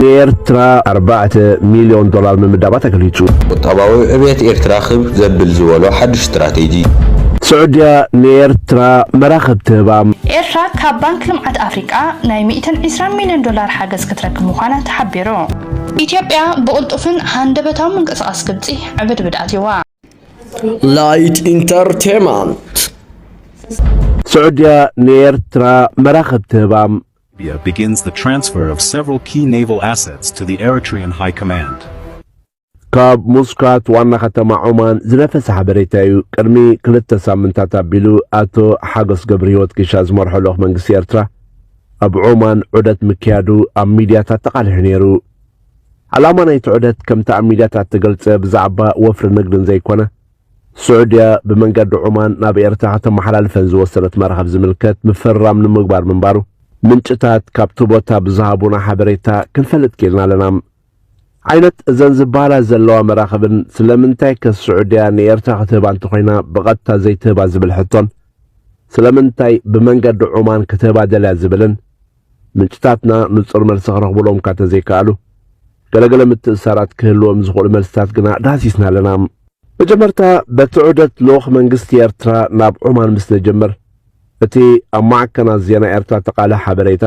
ንኤርትራ ኣርባዕተ ሚልዮን ዶላር ምምዳባ ተገሊጹ። ቁጠባዊ ዕብየት ኤርትራ ክብ ዘብል ዝበሎ ሓድሽ ስትራቴጂ። ስዑድያ ንኤርትራ መራኽብ ትህባ። ኤርትራ ካብ ባንክ ልምዓት ኣፍሪቃ ናይ ሚእትን ዒስራን ሚልዮን ዶላር ሓገዝ ክትረክብ ምዃና ተሓቢሩ። ኢትዮጵያ ብቕልጡፍን ሃንደበታዊ ምንቅስቓስ ግብጺ ዕብድብድ ኣትዩዋ። ላይት ኢንተርቴመንት ስዑድያ ንኤርትራ መራኽብ ትህባ። Libya begins the transfer of several key naval assets to the Eritrean High Command. ካብ ሙስካት ዋና ከተማ ዖማን ዝነፈሰ ሓበሬታ እዩ። ቅድሚ ክልተ ሳምንታት ኣቢሉ ኣቶ ሓጎስ ገብሪ ህይወት ኪሻ ዝመርሖ ልኡኽ መንግስቲ ኤርትራ ኣብ ዖማን ዑደት ምክያዱ ኣብ ሚድያታት ተቓሊሑ ነይሩ። ዓላማ ናይቲ ዑደት ከምቲ ኣብ ሚድያታት ተገልጸ ብዛዕባ ወፍሪ ንግድን ዘይኮነ ስዑድያ ብመንገዲ ዖማን ናብ ኤርትራ ከተመሓላልፈን ዝወሰነት መራኽብ ዝምልከት ምፍርራም ንምግባር ምንባሩ ምንጭታት ካብቲ ቦታ ብዝሃቡና ሓበሬታ ክንፈልጥ ኪኢልና ኣለና። ዓይነት እዘን ዝበሃላ ዘለዋ መራኽብን ስለምንታይ ከ ስዑድያ ንኤርትራ ክትህባ እንተኾይና ብቐጥታ ዘይትህባ ዝብል ሕቶን ስለምንታይ ብመንገዲ ዖማን ክትህባ ደልያ ዝብልን ምንጭታትና ንጹር መልሲ ክረኽቡሎም እካ ተዘይከኣሉ፣ ገለ ገለ ምትእስሳራት ክህልዎም ዝኽእሉ መልስታት ግና ዳህሲስና ኣለና። መጀመርታ በቲ ዑደት ልኡኽ መንግስቲ ኤርትራ ናብ ዖማን ምስ ንጅምር፣ እቲ ኣብ ማዕከናት ዜና ኤርትራ ተቃልሕ ሓበሬታ፣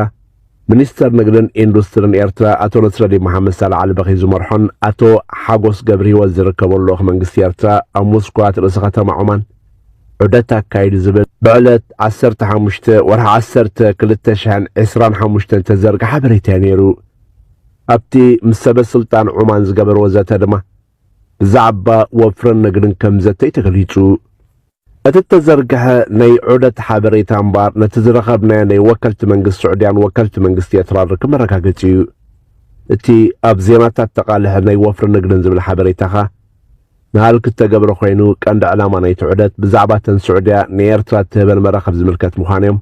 ሚኒስተር ንግድን ኢንዱስትርን ኤርትራ ኣቶ ነስረዲን መሓመድሳላሕ ኣልበኺ ዝመርሖን ኣቶ ሓጎስ ገብርሂወት ዝርከቦን ልኡኽ መንግስቲ ኤርትራ ኣብ ሙስኳት ርእሰ ከተማ ዖማን ዑደት ኣካይዱ ዝብል ብዕለት ዓሰርተ ሓሙሽተ ወርሒ ዓሰርተ ክልተ ሽሕን ዕስራን ሓሙሽተን ዝተዘርገ ሓበሬታ እዩ ነይሩ። ኣብቲ ምስ ሰበስልጣን ዑማን ዝገበርዎ ዘተ ድማ ብዛዕባ ወፍርን ንግድን ከም ዘተይ ተገሊጹ። እቲ እተዘርግሐ ናይ ዑደት ሓበሬታ እምበኣር ነቲ ዝረኸብናዮ ናይ ወከልቲ መንግስቲ ስዑድያን ወከልቲ መንግስቲ ኤርትራን ርክብ መረጋገጺ እዩ። እቲ ኣብ ዜናታት ተቓልሐ ናይ ወፍሪ ንግድን ዝብል ሓበሬታኻ ንሃልኪ እተገብረ ኮይኑ ቀንዲ ዕላማ ናይቲ ዑደት ብዛዕባ እተን ስዑድያ ንኤርትራ እትህበን መራኽብ ዝምልከት ምዃኑ'ዮም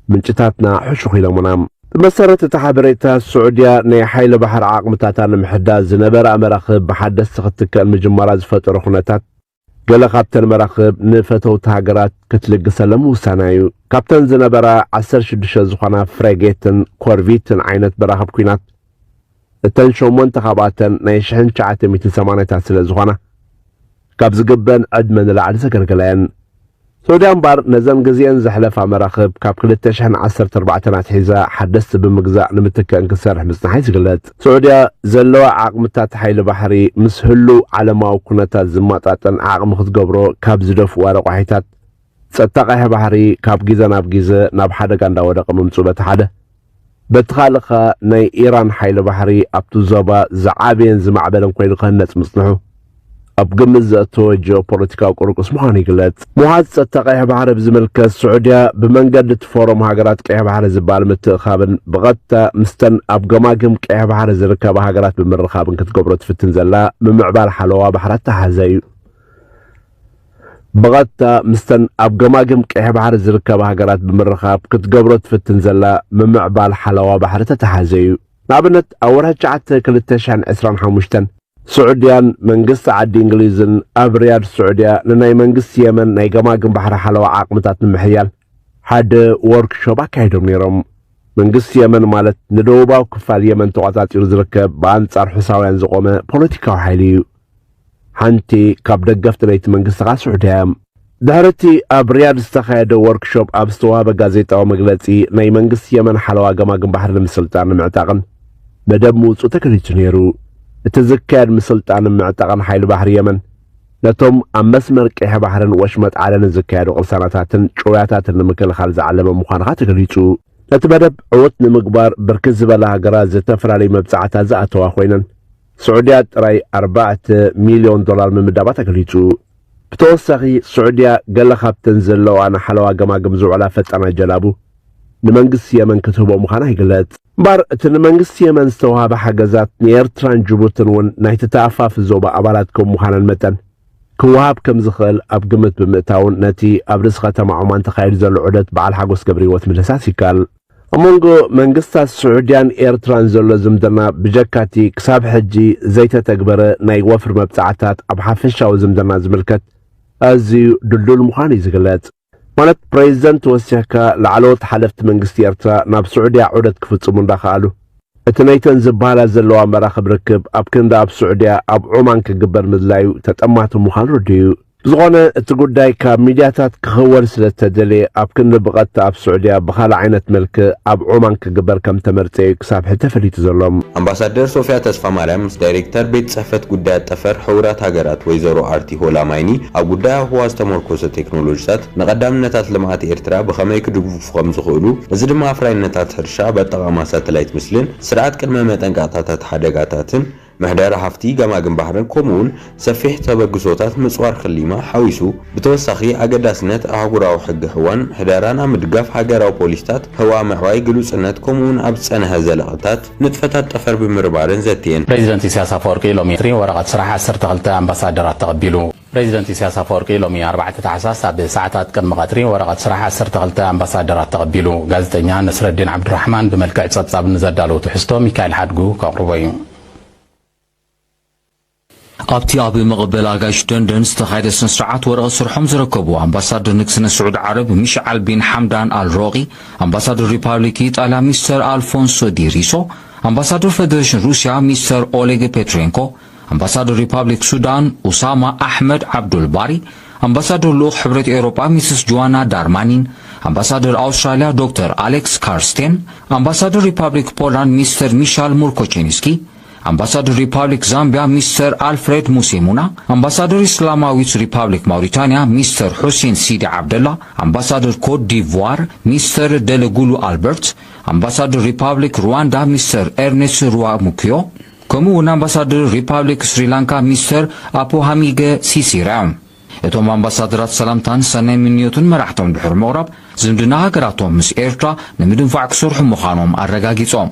ምንጭታትና ሕሹኽ ኢሎሙና። ብመሰረት እቲ ሓበሬታ፣ ስዑድያ ናይ ሓይሊ ባሕሪ ዓቕምታታ ንምሕዳስ ዝነበራኣ መራኽብ ብሓደስቲ ክትትከል ምጅማራ ዝፈጠሮ ኩነታት፣ ገለ ካብተን መራኽብ ንፈተውቲ ሃገራት ክትልግሰለን ምውሳና'ዩ። ካብተን ዝነበራ ዓሰርተ ሽዱሽተ ዝኾና ፍሬጌትን ኮርቪትን ዓይነት መራኽብ ኲናት፣ እተን ሸሞንተ ካብኣተን ናይ ሽሕን ትሽዓተ ሚእትን ሰማንያታት ስለ ዝኾና ካብ ዝግበን ዕድመ ንላዕሊ ዘገልገላ እየን። ሶድያ እምበኣር ነዘን ግዜኤን ዘሕለፋ መራኽብ ካብ ክልተ ሽሕን ዓሰርተ ኣርባዕተን ኣትሒዛ ሓደስቲ ብምግዛእ ንምትከእን ክትሰርሕ ምጽንሓ እዩ ዝግለጽ። ሶዑድያ ዘለዋ ዓቕምታት ሓይሊ ባሕሪ ምስ ህሉው ዓለማዊ ኩነታት ዝማጣጠን ዓቕሚ ክትገብሮ ካብ ዝደፍእዋ ረቋሒታት ጸጥታ ቀይሕ ባሕሪ ካብ ጊዘ ናብ ጊዘ ናብ ሓደጋ እንዳወደቀ ምምጹ በቲ ሓደ በቲ ካልእ ከኣ ናይ ኢራን ሓይሊ ባሕሪ ኣብቲ ዞባ ዝዓበየን ዝማዕበለን ኮይኑ ክህነጽ ምጽንሑ ኣብ ግምት ዘእተወ ጂኦፖለቲካዊ ቁርቁስ ምዃኑ ይግለጽ። ምውሓዝ ጸጥታ ቀይሕ ባሕሪ ብዝምልከት ስዑድያ ብመንገዲ እቲ ፎረም ሃገራት ቀይሕ ባሕሪ ዝበሃል ምትእኻብን ብቐጥታ ምስተን ኣብ ገማግም ቀይሕ ባሕሪ ዝርከባ ሃገራት ብምርኻብን ክትገብሮ ትፍትን ዘላ ምምዕባል ሓለዋ ባሕሪ ኣተሓሕዛ እዩ። ብቐጥታ ምስተን ኣብ ገማግም ቀይሕ ባሕሪ ዝርከባ ሃገራት ብምርኻብ ክትገብሮ ትፍትን ዘላ ምምዕባል ሓለዋ ባሕሪ ተተሓዘ እዩ። ንኣብነት ኣብ ወርሒ ትሽዓተ ክልተ ሽሕን ዕስራን ሓሙሽተን፣ ስዑድያን መንግስቲ ዓዲ እንግሊዝን ኣብ ሪያድ ስዑድያ ንናይ መንግስቲ የመን ናይ ገማግም ባሕሪ ሓለዋ ዓቕምታት ንምሕያል ሓደ ዎርክ ሾፕ ኣካይዶም ነይሮም። መንግስቲ የመን ማለት ንደቡባዊ ክፋል የመን ተቖጻጺሩ ዝርከብ ብኣንጻር ሑሳውያን ዝቖመ ፖለቲካዊ ሓይሊ እዩ። ሓንቲ ካብ ደገፍቲ ናይቲ መንግስትኻ ስዑድያ እያ። ድሕሪ እቲ ኣብ ሪያድ ዝተኻየደ ወርክሾፕ ኣብ ዝተዋህበ ጋዜጣዊ መግለጺ፣ ናይ መንግስቲ የመን ሓለዋ ገማግም ባሕሪ ንምስልጣን ንምዕጣቕን መደብ ምውጽኡ ተገሊጹ ነይሩ። እቲ ዝካየድ ምስልጣንን ምዕጣቕን ሓይሊ ባሕሪ የመን፣ ነቶም ኣብ መስመር ቀይሕ ባሕርን ወሽመጥ ዓደንን ዝካየዱ ቅርሳናታትን ጭውያታትን ንምክልኻል ዝዓለመ ምዃኑ ከኣ ተገሊጹ። ነቲ መደብ ዕዉት ንምግባር ብርክት ዝበላ ሃገራት ዝተፈላለዩ መብጽዓታት ዝኣተዋ ኮይነን፣ ስዑድያ ጥራይ ኣርባዕተ ሚልዮን ዶላር ምምዳባ ተገሊጹ። ብተወሳኺ ስዑድያ ገለ ካብተን ዘለውኣ ንሓለዋ ገማግም ዝውዕላ ፈጣናት ጀላቡ ንመንግስቲ የመን ክትህቦ ምዃና ይግለጽ። እምበኣር እቲ ንመንግስቲ የመን ዝተውሃበ ሓገዛት ንኤርትራን ጅቡትን እውን ናይቲ ተኣፋፊ ዞባ ኣባላት ከም ምዃነን መጠን ክወሃብ ከም ዝኽእል ኣብ ግምት ብምእታውን ነቲ ኣብ ርእሲ ከተማ ዖማን ተኻይዱ ዘሎ ዑደት በዓል ሓጎስ ገብረሂወት ምድህሳስ ይከኣል። ኣብ መንጎ መንግስታት ስዑድያን ኤርትራን ዘሎ ዝምድና ብጀካ'ቲ ክሳብ ሕጂ ዘይተተግበረ ናይ ወፍሪ መብጽዓታት ኣብ ሓፈሻዊ ዝምድና ዝምልከት ኣዝዩ ድልዱል ምዃኑ'ዩ ዝግለጽ። ማለት ፕረዚደንት ወሲኽካ ላዕለዎት ሓለፍቲ መንግስቲ ኤርትራ ናብ ስዑድያ ዑደት ክፍጽሙ እንዳኸኣሉ፣ እቲ ነይተን ዝበሃላ ዘለዋ መራኽብ ርክብ ኣብ ክንዲ ኣብ ስዑድያ ኣብ ዖማን ክግበር ምድላዩ ተጠማቲ ምዃኑ ርዱእ'ዩ። ብዝኾነ እቲ ጉዳይ ካብ ሚድያታት ክኽወል ስለዝተደልየ ኣብ ክንዲ ብቐጥታ ኣብ ስዑድያ ብኻልእ ዓይነት መልክእ ኣብ ዖማን ክግበር ከምተመርጸ እዩ ክሳብ ሕጂ ተፈሊጡ ዘሎ። ኣምባሳደር ሶፍያ ተስፋማርያም ምስ ዳይሬክተር ቤት ጽሕፈት ጉዳያት ጠፈር ሕቡራት ሃገራት ወይዘሮ ኣርቲ ሆላማይኒ ኣብ ጉዳይ ኣብ ህዋ ዝተሞርኮሰ ቴክኖሎጂታት ንቐዳምነታት ልምዓት ኤርትራ ብኸመይ ክድግፉ ከምዝኽእሉ እዚ ድማ ኣፍራይነታት ሕርሻ ኣብ ኣጠቓቕማ ሳተላይት ምስልን ስርዓት ቅድመ መጠንቀቕታታት ሓደጋታትን ምሕደራ ሃፍቲ ገማግም ባሕርን ከምኡውን ሰፊሕ ተበግሶታት ምጽዋር ክሊማ ሓዊሱ፣ ብተወሳኺ ኣገዳስነት ኣህጉራዊ ሕጊ ህዋን ምሕደራን ኣብ ምድጋፍ ሃገራዊ ፖሊሲታት ህዋ ኣብ ምዕባይ ግሉጽነት ከምኡውን ኣብ ዝጸንሐ ዘለቐታት ንጥፈታት ጠፈር ብምርባርን ዘትየን። ፕሬዚደንት ኢሳያስ ኣፈወርቂ ሎሚ ቀትሪ ወረቐት ስራሕ ዓሰርተ ክልተ ኣምባሳደራት ተቐቢሉ። ፕረዚደንት ኢሳያስ ኣፈወርቂ ሎሚ ኣርባዕተ ታሕሳስ ኣብ ሰዓታት ቅድሚ ቀትሪ ወረቐት ስራሕ ዓሰርተ ክልተ ኣምባሳደራት ተቐቢሉ። ጋዜጠኛ ነስረዲን ዓብዱራሕማን ብመልክዕ ጸብጻብ ንዘዳለዎ ትሕዝቶ ሚካኤል ሓድጉ ከቕርቦ እዩ። ኣብቲ ኣብ መቐበሊ ኣጋይሽ ደንደን ዝተኻየደ ስነስርዓት ወረቐት ስርሖም ዝረከቡ ኣምባሳደር ንግስነት ስዑድ ዓረብ ሚሽዓል ቢን ሓምዳን ኣል ሮቒ፣ ኣምባሳደር ሪፓብሊክ ኢጣልያ ሚስተር ኣልፎንሶ ዲ ሪሶ፣ ኣምባሳደር ፈደረሽን ሩስያ ሚስተር ኦሌግ ፔትሬንኮ፣ ኣምባሳዶር ሪፓብሊክ ሱዳን ኡሳማ ኣሕመድ ዓብዱል ባሪ፣ ኣምባሳዶር ልኡኽ ሕብረት ኤውሮጳ ሚስስ ጆዋና ዳርማኒን፣ ኣምባሳዶር ኣውስትራልያ ዶክተር ኣሌክስ ካርስቴን፣ ኣምባሳዶር ሪፓብሊክ ፖላንድ ሚስተር ሚሻል ሙርኮቼንስኪ፣ ኣምባሳዶር ሪፓብሊክ ዛምቢያ ሚስተር ኣልፍሬድ ሙሴሙና፣ ኣምባሳዶር እስላማዊት ሪፓብሊክ ማውሪታንያ ሚስተር ሑሴን ሲዲ ዓብደላ፣ ኣምባሳዶር ኮት ዲቭዋር ሚስተር ደለጉሉ ኣልበርት፣ ኣምባሳዶር ሪፓብሊክ ሩዋንዳ ሚስተር ኤርኔስ ሩዋሙክዮ፣ ከምኡ እውን ኣምባሳድር ሪፓብሊክ ስሪላንካ ሚስተር ኣፖሃሚገ ሲሲራ እቶም ኣምባሳድራት ሰላምታን ሰናይ ምንዮትን መራሕቶም ድሕሪ ምቕራብ ዝምድና ሃገራቶም ምስ ኤርትራ ንምድንፋዕ ክሰርሑ ምዃኖም ኣረጋጊጾም።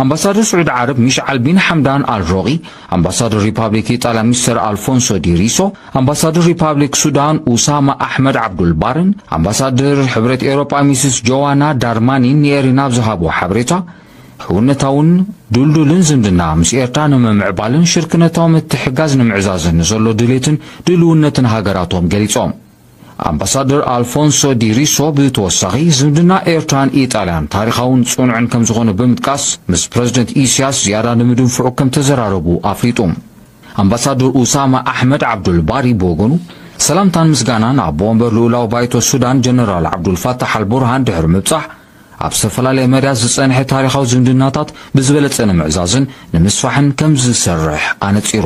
ኣምባሳደር ስዑዲ ዓረብ ሚሽዓል ቢን ሓምዳን ኣል ሮቒ፣ ኣምባሳደር ሪፓብሊክ ኢጣልያ ሚስተር ኣልፎንሶ ዲ ሪሶ፣ ኣምባሳደር ሪፓብሊክ ሱዳን ኡሳማ ኣሕመድ ዓብዱል ባርን ኣምባሳደር ሕብረት ኤውሮጳ ሚስስ ጆዋና ዳርማኒን ንኤሪና ኣብ ዝሃብዎ ሓበሬታ ሕውነታውን ድልዱልን ዝምድና ምስ ኤርትራ ንምምዕባልን ሽርክነታዊ ምትሕጋዝ ንምዕዛዝን ንዘሎ ድሌትን ድልውነትን ሃገራቶም ገሊጾም። ኣምባሳደር ኣልፎንሶ ዲ ሪሶ ብተወሳኺ ዝምድና ኤርትራን ኢጣልያን ታሪኻውን ጽኑዕን ከምዝኾነ ብምጥቃስ ምስ ፕረዚደንት ኢሲያስ ዝያዳ ንምድንፍዑ ከምተዘራረቡ ኣፍሊጡ። ኣምባሳደር ኡሳማ ኣሕመድ ዓብዱል ባሪ ብወገኑ ሰላምታን ምስጋናን ኣቦ ወንበር ልኡላዊ ባይቶ ሱዳን ጀነራል ዓብዱልፋታሕ ኣልቡርሃን ድሕሪ ምብጻሕ ኣብ ዝተፈላለየ መዳያት ዝጸንሐ ታሪኻዊ ዝምድናታት ብዝበለጸ ንምዕዛዝን ንምስፋሕን ከምዝሰርሕ ኣነጺሩ።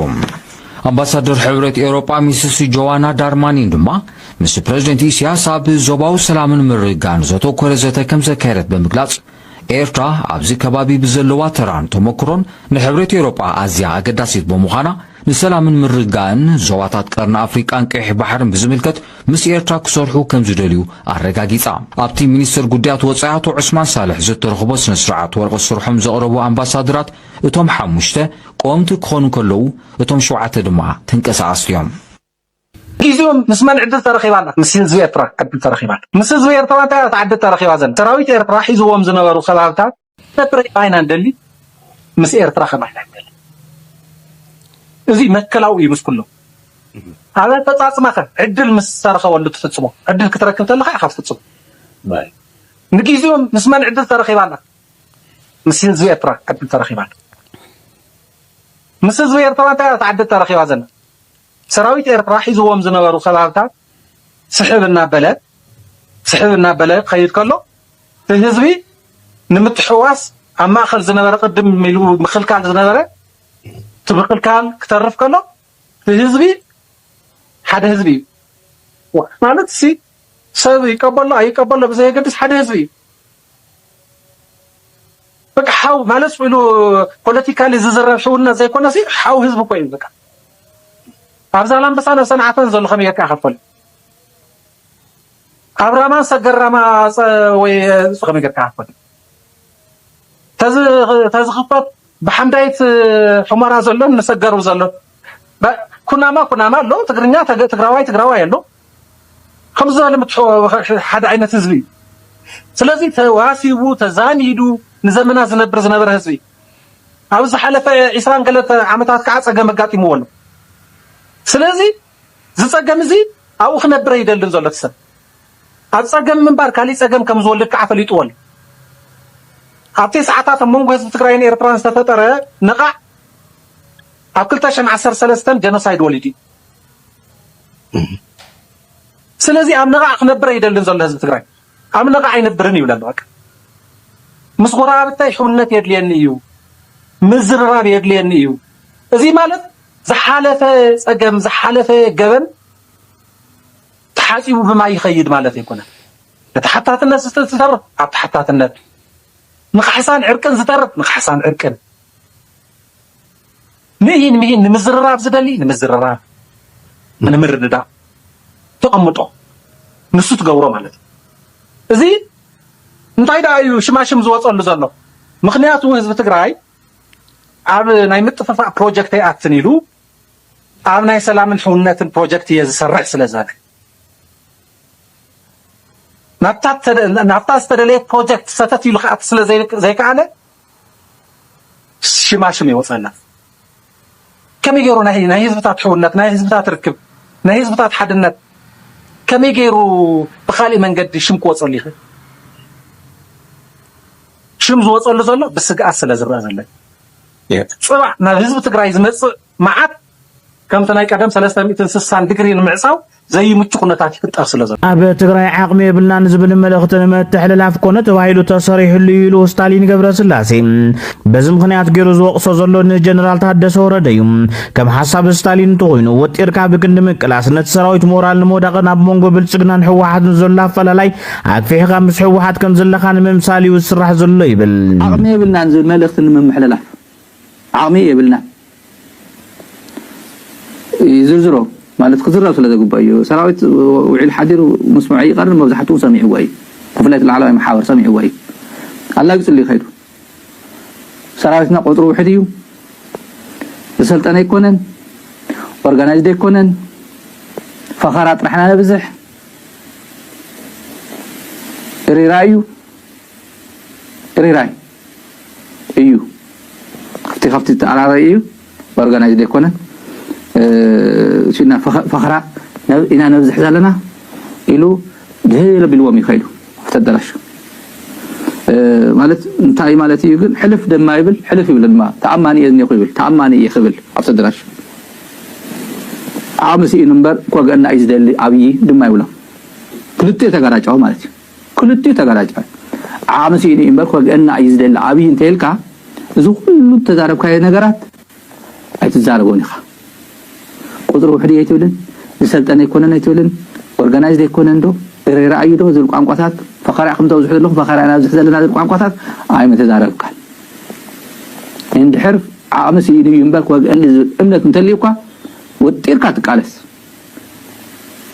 ኣምባሳደር ሕብረት ኤውሮጳ ሚስስ ጆዋና ዳርማኒን ድማ ምስ ፕረዚደንት ኢሳያስ ኣብ ዞባዊ ሰላምን ምርግጋእን ዘተኮረ ዘተ ከምዘካየደት ብምግላጽ ኤርትራ ኣብዚ ከባቢ ብዘለዋ ተራን ተመክሮን ንሕብረት ኤውሮጳ ኣዝያ ኣገዳሲት ብምዃና ንሰላምን ምርግጋእን ዞባታት ቀርኒ ኣፍሪቃን ቀይሕ ባሕርን ብዝምልከት ምስ ኤርትራ ክሰርሑ ከም ዝደልዩ ኣረጋጊጻ። ኣብቲ ሚኒስተር ጉዳያት ወጻኢ ኣቶ ዑስማን ሳልሕ ዘተረኽቦ ስነ ስርዓት ወረቐት ስርሖም ዘቕረቡ ኣምባሳደራት እቶም ሓሙሽተ ቀወምቲ ክኾኑ ከለዉ እቶም ሸውዓተ ድማ ተንቀሳቐስቲ እዮም። ኢዚኦም ምስ መን ዕድል ተረኺባ ኣላ ምስ ህዝቢ ኤርትራ ዕድል ተረኺባ ኣላ ምስ ህዝቢ ኤርትራ እንታይ እያ እታ ዕድል ተረኺባ ዘላ ሰራዊት ኤርትራ ሒዝዎም ዝነበሩ ከባብታት ኤርትራ ኢና ንደሊ ምስ ኤርትራ ከማይ ኢና ንደሊ እዚ መትከላዊ እዩ ምስ ኩሎም ኣብ ኣፈፃፅማኸ ዕድል ምስ ዝተረኸበሉ ትፍፅሞ ዕድል ክትረክብ ተለካ ኢኻ ትፍፅሞ ንግዜኦም ምስ መን ዕድል ተረኺባ ኣላ ምስ ህዝቢ ኤርትራ ዕድል ተረኺባ ኣላ ምስ ህዝቢ ኤርትራ እንታይ እያ ተዓድል ተረኺባ ዘላ ሰራዊት ኤርትራ ሒዝዎም ዝነበሩ ከባብታት ስሕብ እናበለ ስሕብ እናበለ ክኸይድ ከሎ እቲ ህዝቢ ንምትሕዋስ ኣብ ማእከል ዝነበረ ቅድም ኢሉ ምክልካል ዝነበረ እቲ ምክልካል ክተርፍ ከሎ እቲ ህዝቢ ሓደ ህዝቢ እዩ ማለት ሲ ሰብ ይቀበሎ ኣይቀበሎ ብዘየገድስ ሓደ ህዝቢ እዩ በቃ ሓው ማለት ኢሉ ፖለቲካሊ ዝዝረብ ሕውና ዘይኮነ ሲ ሓው ህዝቢ እኮ እዩ በቃ ኣብ ዛላምበሳን ኣብ ሰንዓፈን ዘሎ ከመይ ጌርካ ከፈል ኣብ ራማን ሰገራማ ወይ ከመይ ጌርካ ከፈል ተዚ ተዚ ክፈት ብሓምዳይት ሕሞራ ዘሎን ንሰገሩ ዘሎን ኩናማ ኩናማ ኣሎ ትግርኛ ትግራዋይ ትግራዋይ ኣሎ ከምዚ ዝበለ ምትሕውዋስ ሓደ ዓይነት ህዝቢ እዩ። ስለዚ ተዋሲቡ ተዛሚዱ ንዘመናት ዝነብር ዝነበረ ህዝቢ ኣብ ዝሓለፈ ዒስራን ገለተ ዓመታት ከዓ ፀገም ኣጋጢምዎ ኣሎ። ስለዚ እዚ ፀገም እዚ ኣብኡ ክነብር ኣይደልን ዘሎ እቲ ሰብ ኣብ ፀገም ምንባር ካሊእ ፀገም ከም ዝወልድ ከዓ ፈሊጥዎ ኣሎ። ኣብ ቴስዓታት ኣብ መንጎ ህዝቢ ትግራይን ኤርትራን ዝተፈጠረ ነቓዕ ኣብ ክልተ ሽሕን ዓሰርተ ሰለስተን ጀኖሳይድ ወሊዱ እዩ። ስለዚ ኣብ ነቓዕ ክነብር ኣይደልን ዘሎ ህዝቢ ትግራይ ኣብ ነቓዕ ኣይነብርን ይብለ ኣሎ። ምስ ጎረባብታይ ሕውነት የድልየኒ እዩ፣ ምዝርራብ የድልየኒ እዩ። እዚ ማለት ዝሓለፈ ጸገም ዝሓለፈ ገበን ተሓጺቡ ብማይ ይኸይድ ማለት ኣይኮነን። እቲ ሓታትነት ዝተርፍ ኣብ ተሓታትነት፣ ንካሕሳን ዕርቅን ዝተርፍ ንካሕሳን ዕርቅን ምሂን ምሂን ንምዝርራብ ዝደሊ ንምዝርራብ ንምርድዳእ ተቐምጦ ንሱ ትገብሮ ማለት እዩ እዚ እንታይ ደኣ እዩ ሽማሽም ዝወፀሉ ዘሎ ምክንያቱ ህዝቢ ትግራይ ኣብ ናይ ምጥፍፋእ ፕሮጀክት ኣይኣትን ኢሉ ኣብ ናይ ሰላምን ሕውነትን ፕሮጀክት እየ ዝሰርሕ ስለ ዝበለ ናብታ ዝተደለየ ፕሮጀክት ሰተት ኢሉ ክኣት ስለ ዘይከኣለ ሽማ ሽም የውፀላ ከመይ ገይሩ ናይ ናይ ህዝብታት ሕውነት ናይ ህዝብታት ርክብ ናይ ህዝብታት ሓድነት ከመይ ገይሩ ብካሊእ መንገዲ ሽም ክወፀሉ ይኽእል? ሽም ዝወፀሉ ዘሎ ብስግኣት ስለ ዝረኣ ዘሎ እዩ። ፅባሕ ናብ ህዝቢ ትግራይ ዝመፅእ መዓት ከምቲ ናይ ቀደም ሰለስተ ሚእትን ስሳን ድግሪ ንምዕጻው ዘይምቹ ኩነታት ይፍጠር ስለ ዘሎ። ኣብ ትግራይ ዓቕሚ የብልናን ዝብል መልእኽቲ ንምትሕልላፍ ኮነ ተባሂሉ ተሰሪሕሉ እዩ ኢሉ ስታሊን ገብረስላሴ። በዚ ምኽንያት ገይሩ ዝወቕሶ ዘሎ ንጀነራል ታደሰ ወረደ እዩ። ከም ሓሳብ ስታሊን እንተኾይኑ ወጢርካ ብክንዲ ምቅላስ ነቲ ሰራዊት ሞራል ንምውዳቕን ኣብ መንጎ ብልጽግናን ህወሓትን ዘሎ ኣፈላላይ ኣግፊሕካ ምስ ህወሓት ከም ዘለኻ ንምምሳል እዩ ዝስራሕ ዘሎ ይብል። ዓቕሚ የብልናን ዝብል መልእኽቲ ንምምሕልላፍ ዓቕሚ የብልናን ይዝርዝሮ ማለት ክዝረብ ስለ ዘግብኦ እዩ። ሰራዊት ውዒሉ ሓዲሩ ምስምዑ ኣይቀርን መብዛሕትኡ ሰሚዕዎ እዩ። ብፍላይ እቲ ላዕለዋይ መሓውር ሰሚዕዎ እዩ። ኣላጊጹሉ እዩ ከይዱ። ሰራዊትና ቁጽሩ ውሕድ እዩ። ዝሰልጠነ ኣይኮነን። ኦርጋናይዝድ ኣይኮነን። ፈኸራ ጥራሕ ኢና ነብዝሕ። እሪራ እዩ። እሪራ እዩ። እዩ እቲ ካብቲ ዝተኣራረየ እዩ ኦርጋናይዝድ ኣይኮነን እሱና ፈኸራ ኢና ነብዝሕ ዘለና ኢሉ ድህል ኣቢልዎም እዩ ከይዱ ኣብቲ ኣዳራሽ ማለት እንታይ ማለት እዩ ግን ሕልፍ ደማ ይብል ሕልፍ ይብል ድማ ተኣማኒ እየ ዝኒኹ ይብል ተኣማኒ እየ ክብል ኣብቲ ኣዳራሽ ዓቕሚ ስኢኑ እምበር ኮገና እዩ ዝደሊ ኣብዪ ድማ ይብሎም ክልቲኡ ተጋራጫው ማለት እዩ ክልቲኡ ተጋላጫይ ዓቅሚ ሲኢኑ እዩ እምበር ክወግኣና እዩ ዝደሊ ኣብይ እንተይልካ እዚ ኩሉ ዝተዛረብካዮ ነገራት ኣይትዛረቦን ኢካ ቁፅሪ ውሕድ እዩ ኣይትብልን ዝሰልጠነ ኣይኮነን ኣይትብልን ኦርጋናይዝድ ኣይኮነን ዶ እረ ረኣዩ ዶ ዝብል ቋንቋታት ፈኸራ ኢኩም ተብዝሑ ዘለኩም ፈኸራ ኢና ነብዝሕ ዘለና ዝብል ቋንቋታት ኣይምተዛረብካን እንድሕር ዓቅሚ ሲኢኑ እዩ እምበር ክወግኣኒ ዝብል እምነት እንተልዩካ ወጢርካ ትቃለስ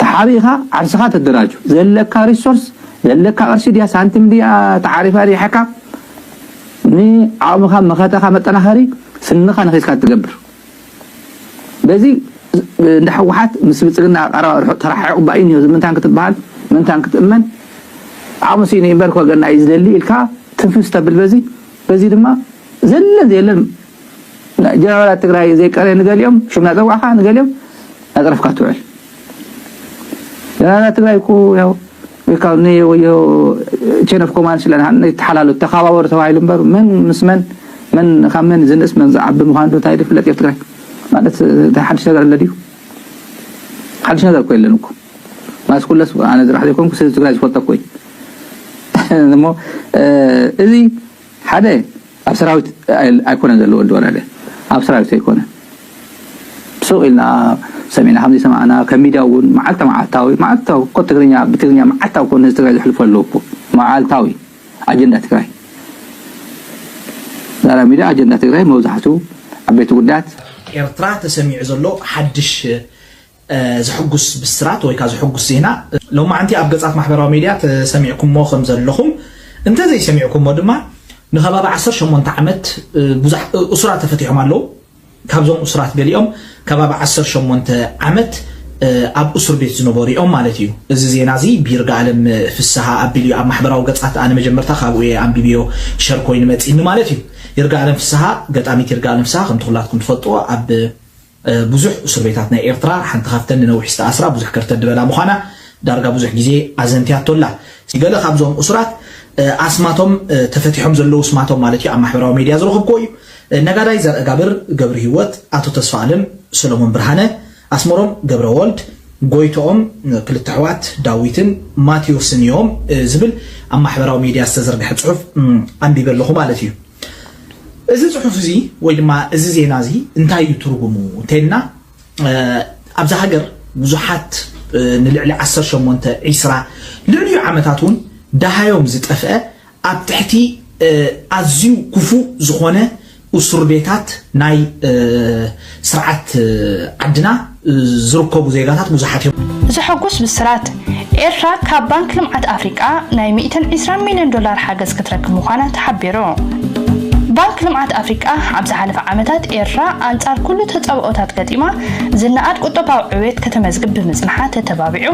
ተሓቢእኻ ዓርስኻ ተደራጁ ዘለካ ሪሶርስ ዘለካ ቅርሺ ድያ ሳንቲም ድያ ተዓሪፋ ሪሓካ ንዓቕምኻ መኸተኻ መጠናኸሪ ስንኻ ነኺስካ ትገብር በዚ እንዳ ሕወሓት ምስ ብልፅግና ቀረባ ርሑቕ ተራሓሒቑ ባይ እኒሆ ዝምንታን ክትበሃል ምንታን ክትእመን ዓቕሚ ስኢነ እምበር ኮገና እዩ ዝደሊ ኢልካ ትንፍስ ተብል በዚ በዚ ድማ ዘለን ዘየለን ጀነራላት ትግራይ ዘይቀረየ ንገሊኦም ሽም ናፀዋዕካ ንገሊኦም ናፀረፍካ ትውዕል ጀነራላት ትግራይ እኮ ያው ካብ ንወዮ ቼን ኦፍ ኮማንድ ስለ ይተሓላሉ ተኸባበሩ ተባሂሉ እምበር መን ምስ መን መን ካብ መን ዝንእስ መን ዝዓቢ ምዃኑ ዶ እንታይ ድፍለጥ ኣብ ትግራይ ማለት ሓድሽ ነገር ኣሎ ድዩ ሓድሽ ነገር እኮ የለን እኮ ማለት ኩለስ ኣነ ዝራሕ ዘይኮንኩ ስለ ትግራይ ዝፈልጦ እኮ እዩ እሞ እዚ ሓደ ኣብ ሰራዊት ኣይኮነን ዘሎ ወዲ ወረደ ኣብ ሰራዊት ዘይኮነ ሱቅ ኢልና ሰሚዕና ከም ዘይሰማዕና ከም ሚድያ እውን መዓልታ መዓልታዊ መዓልታዊ እኮ ትግርኛ ብትግርኛ መዓልታዊ እኮ ንህዝቢ ትግራይ ዘሕልፎ ኣለዎ እኮ መዓልታዊ ኣጀንዳ ትግራይ ዛራ ሚድያ ኣጀንዳ ትግራይ መብዛሕቱ ዓበይቲ ጉዳያት ኤርትራ ተሰሚዑ ዘሎ ሓድሽ ዘሕጉስ ብስራት ወይ ከኣ ዘሕጉስ ዜና ሎማዕንቲ ኣብ ገጻት ማሕበራዊ ሜድያ ተሰሚዕኩሞ ከም ዘለኹም እንተ ዘይሰሚዕኩሞ ድማ ንከባቢ ዓሰርተ ሸሞንተ ዓመት ብዙሕ እሱራት ተፈቲሖም ኣለዉ ካብዞም እሱራት ገሊኦም ከባቢ ዓሰርተ ሸሞንተ ዓመት ኣብ እሱር ቤት ዝነበሩ እዮም ማለት እዩ። እዚ ዜና እዚ ብይርጋኣለም ፍስሃ ኣቢሉ እዩ ኣብ ማሕበራዊ ገጻት ኣነ መጀመርታ ካብኡ እየ ኣንቢብዮ ሸር ኮይኑ መጺኒ ማለት እዩ። ይርጋኣለም ፍስሃ ገጣሚት ይርጋኣለም ፍስሃ ከምቲ ኩላትኩም ትፈልጥዎ ኣብ ብዙሕ እሱርቤታት ናይ ኤርትራ ሓንቲ ካብተን ንነዊሕ ዝተኣስራ ብዙሕ ከርተት ድበላ ምዃና ዳርጋ ብዙሕ ግዜ ኣዘንትያቶ ኣላ። ገለ ካብዞም እሱራት ኣስማቶም ተፈቲሖም ዘለዉ ስማቶም ማለት እዩ ኣብ ማሕበራዊ ሜድያ ዝረኸብኩዎ እዩ። ነጋዳይ ዘርእጋብር ገብርሂወት፣ ኣቶ ተስፋኣለም ሰሎሞን ብርሃነ፣ ኣስመሮም ገብረወልድ፣ ጎይትኦም፣ ክልተ ኣሕዋት ዳዊትን ማትዮስን እዮም ዝብል ኣብ ማሕበራዊ ሜድያ ዝተዘርግሐ ጽሑፍ ኣንቢበ ኣለኹ ማለት እዩ። እዚ ጽሑፍ እዚ ወይ ድማ እዚ ዜና እዚ እንታይ እዩ ትርጉሙ እንተይልና ኣብዛ ሃገር ብዙሓት ንልዕሊ 18 20 ልዕሊኡ ዓመታት እውን ደሃዮም ዝጠፍአ ኣብ ትሕቲ ኣዝዩ ክፉእ ዝኾነ እሱር ቤታት ናይ ስርዓት ዓድና ዝርከቡ ዜጋታት ብዙሓት እዮም። ዘሐጉስ ብስራት! ኤርትራ ካብ ባንክ ልምዓት ኣፍሪቃ ናይ ሚእትን ዒስራን ሚልዮን ዶላር ሓገዝ ክትረክብ ምዃና ተሓቢሩ። ባንክ ልምዓት ኣፍሪቃ ኣብ ዝሓለፈ ዓመታት ኤርትራ ኣንጻር ኩሉ ተጻብኦታት ገጢማ ዝነኣድ ቁጠባዊ ዕብየት ከተመዝግብ ብምጽንሓ ተተባቢዑ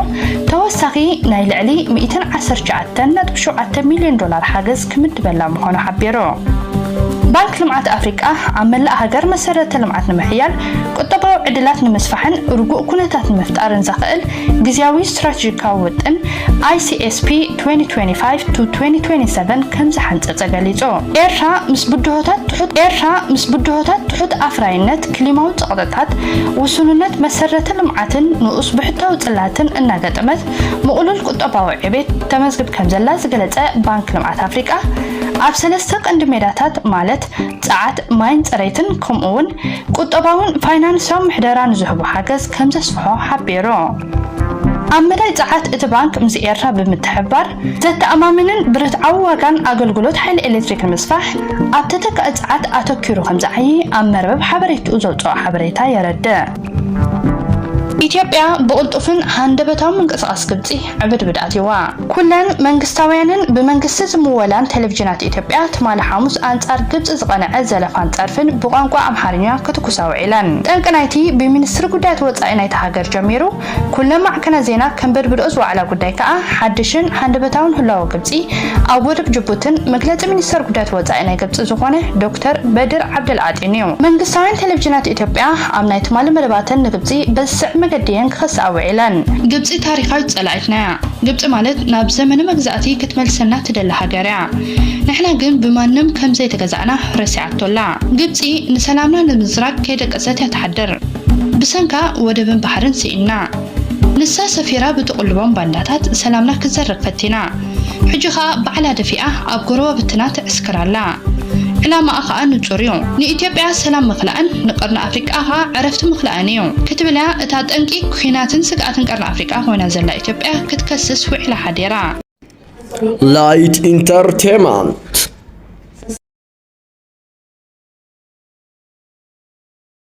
ተወሳኺ ናይ ልዕሊ ሚእትን ዓሰርተ ትሽዓተን ነጥቢ ሸውዓተ ሚልዮን ዶላር ሓገዝ ክምድበላ ምዃኑ ሓቢሩ። ባንክ ልምዓት ኣፍሪቃ ኣብ መላእ ሃገር መሰረተ ልምዓት ንምሕያል፣ ቁጠባዊ ዕድላት ንምስፋሕን ርጉእ ኩነታት ንምፍጣርን ዘኽእል ግዝያዊ ስትራቴጂካዊ ውጥን፣ ICSP 2025-2027፣ ከምዝሓንጸጸ ገሊጹ። ኤርትራ ምስ ብድሆታት ትሑት ኤርትራ ምስ ብድሆታት ትሑት ኣፍራይነት፣ ክሊማዊ ጸቕጥታት፣ ውሱንነት መሰረተ ልምዓትን ንኡስ ብሕታዊ ጽላትን እናገጠመት፣ ምቕሉል ቁጠባዊ ዕቤት ተመዝግብ ከምዘላ ዝገለጸ ባንክ ልምዓት ኣፍሪቃ፣ ኣብ ሰለስተ ቀንዲ ሜዳታት ማለት ጸዓት፣ ማይን ጽሬትን ከምኡ'ውን ቁጠባውን ፋይናንስያውን ምሕደራ ንዝህቦ ሓገዝ ከምዘስፍሖ ሓቢሩ። ኣብ መዳይ ጸዓት እቲ ባንክ ምስ ኤርትራ ብምትሕብባር ዘተኣማምንን ብርትዓዊ ዋጋን ኣገልግሎት ሓይሊ ኤሌክትሪክ ንምስፋሕ ኣብ ተተካኢ ጸዓት ኣተኲሩ ከምዝዓዪ ኣብ መርበብ ሓበሬትኡ ዘውጽኦ ሓበሬታ የረድእ። ኢትዮጵያ ብቕልጡፍን ሃንደበታዊ ምንቅስቓስ ግብጺ ዕብድብድ ኣትዩዋ። ኩለን መንግስታውያንን ብመንግስቲ ዝምወላን ቴሌቪዥናት ኢትዮጵያ ትማሊ ሓሙስ ኣንጻር ግብጺ ዝቐንዐ ዘለፋን ጸርፍን ብቋንቋ ኣምሓርኛ ክትኩሳ ውዒለን። ጠንቂ ናይቲ ብሚንስትሪ ጉዳያት ወጻኢ ናይታ ሃገር ጀሚሩ፣ ኩለን ማዕከናት ዜና ከንበድብድኦ ዝወዓላ ጉዳይ ከኣ ሓድሽን ሃንደበታውን ህላወ ግብጺ ኣብ ወደብ ጅቡትን መግለጺ ሚኒስተር ጉዳያት ወጻኢ ናይ ግብጺ ዝኾነ ዶክተር በድር ዓብደልዓጢን'ዩ። መንግስታውያን ቴለቭዥናት ኢትዮጵያ ኣብ ናይ ትማሊ መደባተን ንግብጺ በዚ ዝስዕብ መገዲ'የን ክኸስኣ ውዒለን። ግብጺ ታሪኻዊት ጸላኢትና'ያ። ግብጺ ማለት ናብ ዘመነ መግዛእቲ ክትመልሰና ትደሊ ሃገር'ያ። ንሕና ግን ብማንም ከም ዘይተገዛእና ረሲዓቶ ኣላ። ግብጺ ንሰላምና ንምዝራግ ከይደቀሰት'ያ ትሓድር። ብሰንካ ወደብን ባሕርን ስኢንና ንሳ ሰፊራ ብትቕልቦም ባንዳታት ሰላምና ክትዘርግ ፈቲና ሕጂ ከኣ ባዕላ ደፊኣ ኣብ ጎረባብትና ትዕስክር ኣላ ዕላማኣ ከኣ ንጹር እዩ ንኢትዮጵያ ሰላም ምኽላእን ንቀርኒ ኣፍሪቃ ከኣ ዕረፍቲ ምኽላእን እዩ ክትብል እያ እታ ጠንቂ ኲናትን ስግኣትን ቀርኒ ኣፍሪቃ ኮይና ዘላ ኢትዮጵያ ክትከስስ ውዒላ ሓዲራ Light Entertainment